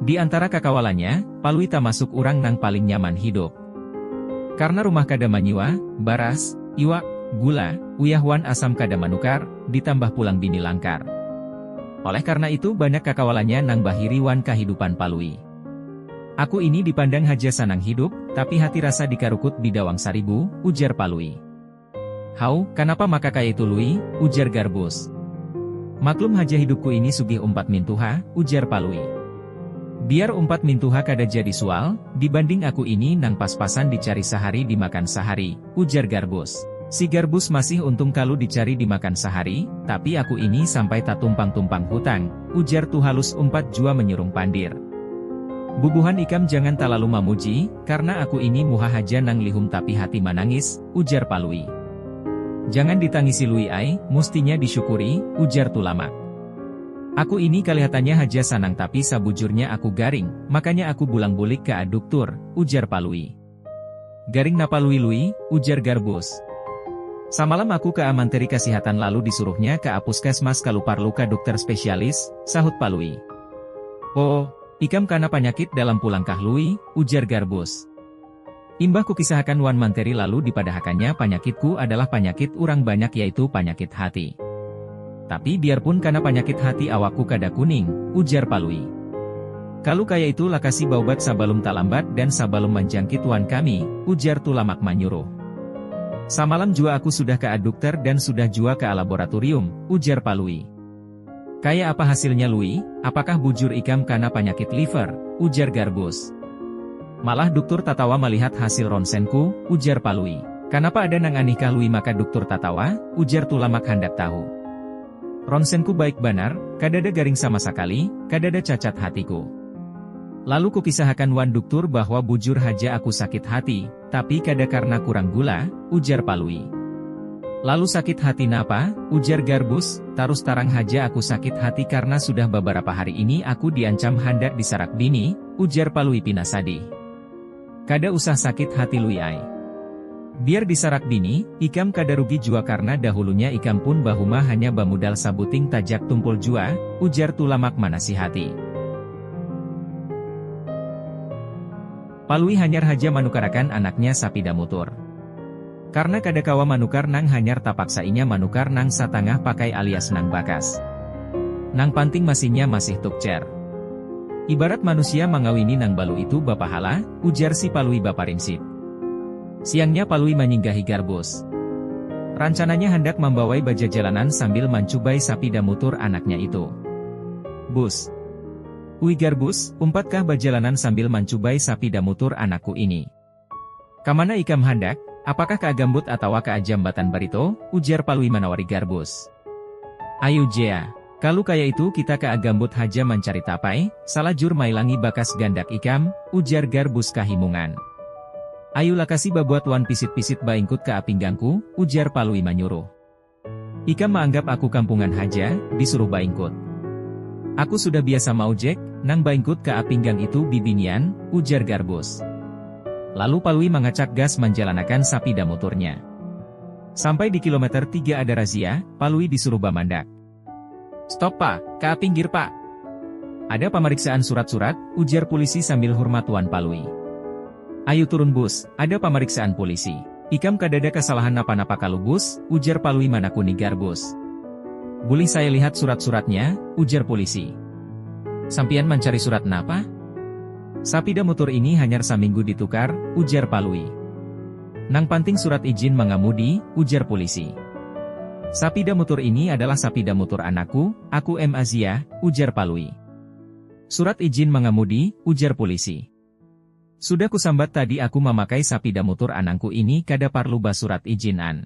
Di antara kakawalannya, Palui tamasuk urang nang paling nyaman hidup. Karna rumah kada manyiwa, baras, iwak, gula, uyah wan asam kada manukar, ditambah pulang bini langkar. Oleh karna itu banyak kakawalannya nang bahiri wan kahidupan Palui. Aku ini dipandang haja sanang hidup, tapi hati rasa dikarukut bidawang saribu, ujar Palui. Haw, kanapa maka kaya itu Lui? ujar Garbus. Maklum haja hidupku ini sugih umpat mintuha, ujar Palui. Biar umpat mintuha kada jadi sual, dibanding aku ini nang pas-pasan dicari sahari dimakan sahari, ujar Garbus. Si Garbus masih untung kalu dicari dimakan sahari, tapi aku ini sampai tatumpang-tumpang hutang, ujar Tuhalus umpat jua menyurung pandir. Bubuhan ikam jangan talalu mamuji, karna aku ini muha haja nang lihum tapi hati manangis, ujar Palui. Jangan ditangisi Lui ai, mustinya disyukuri, ujar Tulamak. Aku ini kalihatannya haja sanang tapi sabujurnya aku garing, makanya aku bulang-bulik ka duktur, ujar Palui. Garing napa Lui Lui? ujar Garbus. Samalam aku ka manteri kasihatan lalu disuruhnya ka puskesmas kalu parlu ka dukter spesialis, sahut Palui. Oh, ikam kana panyakit dalam pulang kah Lui? ujar Garbus. Imbah kukisahakan wan manteri lalu dipadahakannya panyakitku adalah panyakit urang banyak yaitu panyakit hati. Tapi biarpun kana panyakit hati awakku kada kuning, ujar Palui. Kalu kaya itu lakasi baubat sabalum talambat dan sabalum manjangkit wan kami, ujar Tulamak manyuruh. Samalam jua aku sudah ka adukter dan sudah jua ka alaboraturium, ujar Palui. Kaya apa hasilnya Lui, apakah bujur ikam kana panyakit liver? ujar Garbus. Malah duktur tatawa malihat hasil ronsenku, ujar Palui. Kanapa ada nang anihkah Lui maka duktur tatawa? ujar Tulamak handak tahu. Ronsenku baik banar, kadada garing sama sakali, kadada cacat hatiku. Lalu kukisahakan wan duktur bahwa bujur haja aku sakit hati, Tapi kada karna kurang gula, ujar Palui. Lalu sakit hati napa? ujar Garbus, tarus tarang haja aku sakit hati karna sudah babarapa hari ini aku diancam handak disarak bini, ujar Palui pina sadih. Kada usah sakit hati Lui ai. Biar disarak bini, ikam kada rugi jua karna dahulunya ikam pun bahuma hanya bamudal sabuting tajak tumpul jua, ujar Tulamak manasihati. Palui hanyar haja manukarakan anaknya sapida mutur. Karna kada kawa manukar nang hanyar tapaksa inya manukar nang satangah pakai alias nang bakas. Nang panting masinnya masih tukcer. Ibarat manusia mangawini nang balu itu bapahala, ujar si Palui baparinsip. Siangnya Palui manyinggahi Garbus. Rancananya handak mambawai bajajalanan sambil mancubai sapida mutur anaknya itu. Bus. Ui Garbus, umpatkah bajalanan sambil mancubai sapida mutur anakku ini. Kamana ikam handak? Apakah ka Agambut atawa ka Ajambatan Barito? ujar Palui manawari Garbus. Ayu jea, kalu kaya itu kita ka Agambut haja mancari tapai, salajur mailangi bakas gandak ikam, ujar Garbus kahimungan. Ayu lakasi babuat wan pisit-pisit baingkut ka apinggangku, ujar Palui manyuruh. Ikam maanggap aku kampungan haja, disuruh baingkut. Aku sudah biasa maujek, nang baingkut ka apinggang itu bibinian, ujar Garbus. Lalu Palui mangacak gas manjalanakan sapida muturnya. Sampai di kilometer tiga ada razia, Palui disuruh bamandak. Stop pa, ka pinggir pa. Ada pamariksaan surat-surat, ujar pulisi sambil hurmatuan Palui. Ayu turun Bus, ada pamariksaan pulisi. Ikam kadada kasalahan napa-napa kalu Bus? ujar Palui manakuni Garbus. Bulih saya lihat surat-suratnya? ujar pulisi. Sampiyan mancari surat napa? Sapida mutur ini hanyar saminggu ditukar, ujar Palui. Nang panting surat ijin mangamudi, ujar pulisi. Sapida mutur ini adalah sapida mutur anakku, aku MAZIA, ujar Palui. Surat ijin mangamudi, ujar pulisi. Sudah kusambat tadi aku mamakai sapida mutur anangku ini kada parlu basurat ijin an.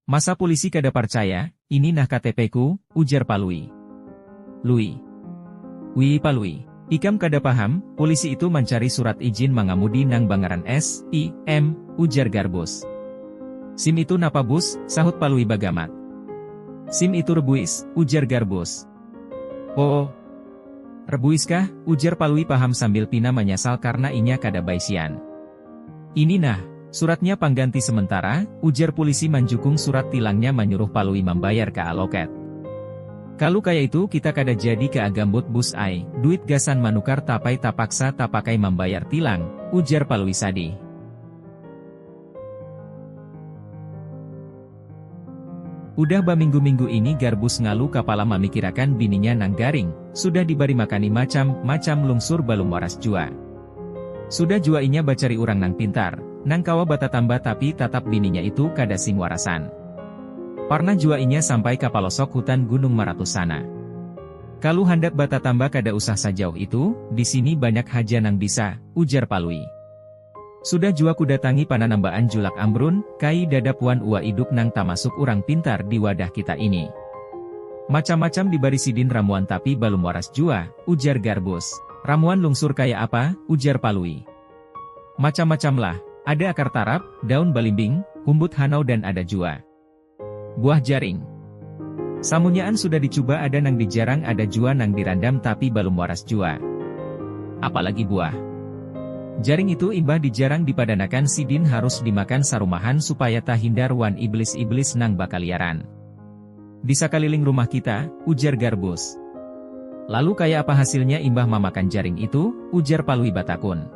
Masa pulisi kada parcaya, ini nah KTP ku, ujar Palui. Lui. Wii Palui. Ikam kada paham, pulisi itu mancari surat ijin mangamudi nang bangaran SIM, ujar Garbus. Sim itu napa Bus, sahut Palui bagamat. Sim itu rebuis, ujar Garbus. Oo. Rebuis kah? ujar Palui paham sambil pina manyasal karna inya kada baisian. Ini nah, suratnya pangganti sementara, ujar pulisi manjukung surat tilangnya manyuruh Palui mambayar ka aloket. Kalu kaya itu kita kada jadi ka Agambut Bus ai, duit gasan manukar tapai tapaksa tapakai mambayar tilang, ujar Palui sadih. Udah baminggu-minggu ini Garbus ngalu kapala mamikirakan bininya nang garing, sudah dibari makani macam, macam lungsur balum waras jua. Sudah jua inya bacari urang nang pintar, nang kawa batatamba tapi tatap bininya itu kada sing warasan. Parnah jua inya sampai ka palosok hutan Gunung Maratus sana. Kalu handak batatamba kada usah sajauh itu, di sini banyak haja nang bisa, ujar Palui. Sudah jua kudatangi pananambaan Julak Amrun, kai dadap wan Uwa Iduk nang tamasuk urang pintar di wadah kita ini. Macam-macam dibari sidin ramuan tapi balum waras jua, ujar Garbus. Ramuan lungsur kaya apa? ujar Palui. Macam-macamlah. Ada akar tarap, daun balimbing, humbut hanau dan ada jua. Buah jaring. Samunyaan sudah dicuba ada nang dijarang ada jua nang dirandam tapi balum waras jua. Apalagi buah. Jaring itu imbah dijarang dipadanakan sidin harus dimakan sarumahan supaya tahindar wan iblis-iblis nang bakaliaran di sakaliling rumah kita, ujar Garbus. Lalu kaya apa hasilnya imbah mamakan jaring itu? ujar Palui batakun.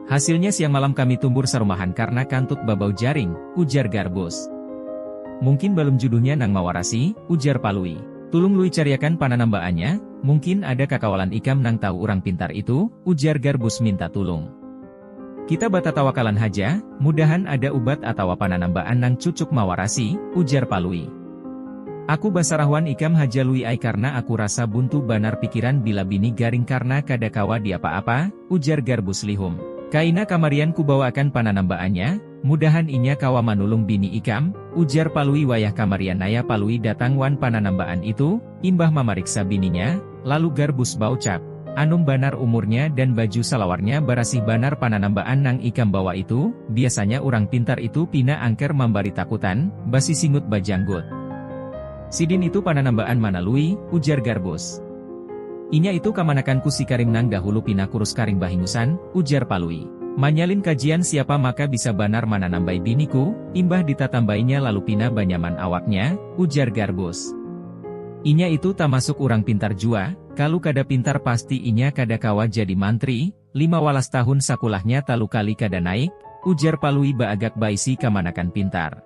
Hasilnya siang malam kami tumbur sarumahan karna kantut babau jaring, ujar Garbus. Mungkin balum juduhnya nang mawarasi, ujar Palui. Tulung Lui cariakan pananambaannya, mungkin ada kakawalan ikam nang tahu urang pintar itu, ujar Garbus minta tulung. Kita batatawakalan haja, mudahan ada ubat atawa pananambaan nang cucuk mawarasi, ujar Palui. Aku basarahuan ikam haja Lui ai karna aku rasa buntu banar pikiran bila bini garing karna kada kawa diapa-apa, ujar Garbus lihum. Kaina kamarian kubawaakan pananambaannya, mudahan inya kawa manulung bini ikam, ujar Palui wayah kamarian naya Palui datang wan pananambaan itu, Imbah mamariksa bininya, lalu Garbus baucap, Anum banar umurnya dan baju salawarnya barasih banar pananambaan nang ikam bawa itu, biasanya urang pintar itu pina angker mambari takutan, basisingut bajanggut. Sidin itu pananambaan mana Lui? ujar Garbus. Inya itu kamanakanku si Karim nang dahulu pina kurus karing bahingusan, ujar Palui. Manyalin kajian siapa maka bisa banar mananambai biniku, imbah ditatambainya lalu pina banyaman awaknya, ujar Garbus. Inya itu tamasuk urang pintar jua, kalu kada pintar pasti inya kada kawa jadi mantri, lima walas tahun sakulahnya talu kali kada naik, ujar Palui baagak baisi kamanakan pintar.